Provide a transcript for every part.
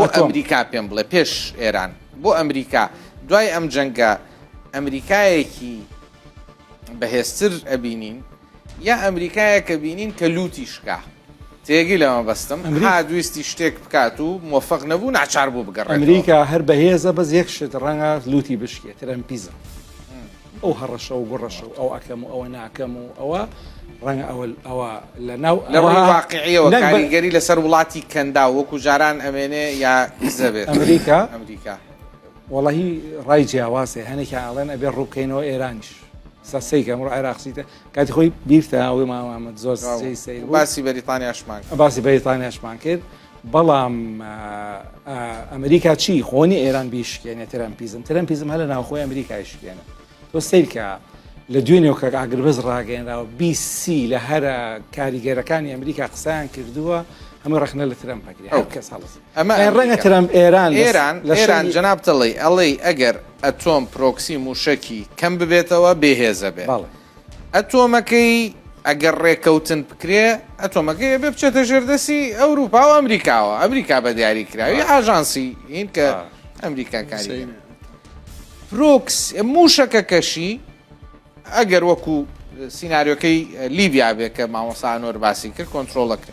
بۆ ئەمریکا پێم بڵێ پێش ئێران بۆ ئەمریکا دوای ئەم جەنگە ئەمریکایەکی بەهێزتر ئەبینین یا ئەمریکایە کە بینین کە لوتی شکا تێگی لەمە بەستم دویستی شتێک بکات و مۆفق نەبوو ناچار بوو بگەڕ ئەمریکا هەر بەهێزە بەس یەک شت ڕەنگە لوتی بشکێت ترەمپیزم ئەو هەڕەشە و گوڕەشە و ئەوە ئەکەم و ئەوە ناکەم و ئەوە ڕەنگە ئەوە ئەوە لە ناو لە ڕووی ئەوە واقعیەوە نەک بە- کاریگەری لەسەر وڵاتی کەندا وەکو جاران ئەمێنێ یا دزە بێت ئەمریکا؟ ئەمریکا وەڵاهی ڕای جیاوازێ هەنێکیان ئەڵێن ئەبێ ڕووبکەینەوە ئێرانیش سا سەیکە ئەمڕۆ عێراق سیتە کاتی خۆی بیرتە ئەوەی مامامەد زۆر سەی سەیر بوو باسی بەریتانیاشمان کرد. باسی بەریتانیاشمان کرد بەڵام ئەمریکا چی خۆنی ئێران بیشکێنێ ترەمپیزم ترەمپیزم هە لە ناوخۆی ئەمریکای شکێنە تۆ سیرکە لە دوێ نێوکە ئاگربەز ڕاگەێنراوە بیسی لە هەرە کاریگەرەکانی ئەمریکا قسەیان کردووە هەمە ڕخنە لە ترم پکری ئەو کەس هەڵس ئەمە ڕەنگە ترم ئێران ئێران لە شان جناب تڵی ئەڵی ئەگەر ئەتۆم پرۆکسی موشکی کەم ببێتەوە بێهێزە بێ ئەتۆمەکەی ئەگەر ڕێکەوتن بکرێ ئەتۆمەکەی ئەبێ بچێتە ژێردەسی ئەوروپا و ئەمریکاوە ئەمریکا بە دیاری کراوی ئاژانسی هین کە ئەمریکا کاری پرۆکس موشەکەکەشی ئەگەر وەکو سینناریۆکەی لیبیا بێ کە مامۆسانۆر باسی کرد کۆنتترۆڵەکە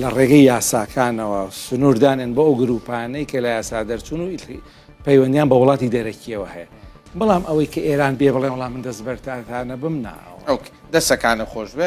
لە ڕێگەی یاساکانەوە سنوور دانێن بۆ ئەو گرووپانەی کە لە یاسا دەرچوون و پەیوەندیان بە وڵاتی دەرەکیەوە هەیە بەڵام ئەوەی کە ئێران بێ بڵێ وڵام من دەست بەرتانتانە بم ناوە ئەو دەسەکانە خۆش بێ